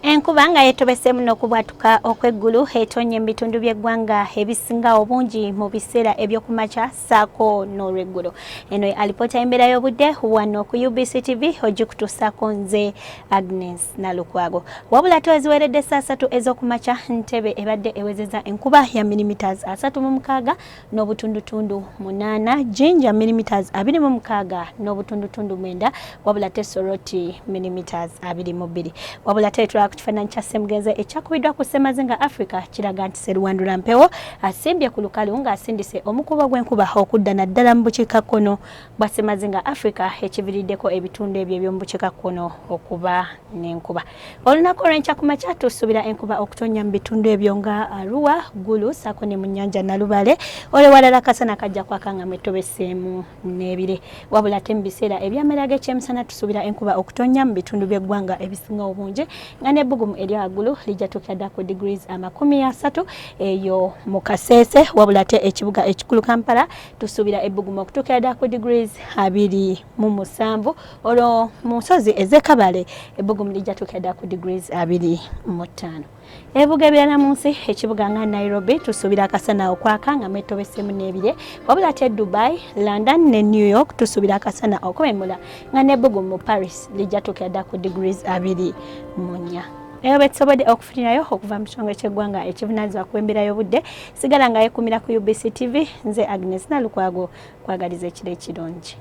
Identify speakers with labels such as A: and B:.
A: Enkuba nga yetobeseemu n'okubwatuka okw'eggulu etonye mu bitundu by'eggwanga ebisinga obungi mu biseera eby'okumakya ssaako n'olweggulo. Eno ye alipoota y'embeera y'obudde wano ku UBC TV ogikutuusaako nze Agnes Nalukwago. Wabula to eziweredde essa asatu ez'okumakya Ntebe ebadde ewezeza enkuba ya milimiters asatu mu mukaaga n'obutundutundu munaana jinja millimeters abiri mu mukaaga n'obutundutundu mwenda wabula te soroti millimeters abiri mu bbiri wabula te tulaba ku kifaananyi kya ssemugenzi ekyakubiddwa ku ssemazinga africa kiraga nti seruwandula mpewo asimbye ku lukalu ng'asindise omukubo gw'enkuba okudda naddala mu bukiikakkono bwa ssemazinga africa ekiviriddeko ebitundu ebyo eby'omu bukiikakkono okuba n'enkuba Olunaku olw'enkya ku makya tusuubira enkuba okutonnya mu bitundu ebyo nga Arua, Gulu saako ne mu nnyanja Nalubale. Olwewalala akasana kajja kwaka nga mwetobeseemu n'ebire. Wabula ate mu biseera eby'amera ag'ekyemisana tusuubira enkuba okutonnya mu bitundu by'eggwanga ebisinga obungi nga n'ebbugumu erya waggulu lijja tuukira ddala ku degrees amakumi asatu eyo mu Kasese. Wabula ate ekibuga ekikulu Kampala tusuubira ebbugumu okutuukira ddala ku degrees abiri mu musanvu. olwo mu nsozi ez'ekabale ebbugumu lijja tukeda ku degrees abiri mu ttaano ebibuga ebirala mu nsi ekibuga nga nairobi tusuubira akasana okwaka nga mwetobesemu n'ebire wabula ate dubai london ne new york tusuubira akasana okwemula nga n'ebbugumu mu paris lijja tukeda ku degrees abiri mu nnya naye betusobodde okufunirayo okuva mu kitongole ky'eggwanga ekivunanyizibwa ku embeera y'obudde sigala nga yekumira ku ubc tv nze agnes nalukwago kwagaliza ekiro ekirungi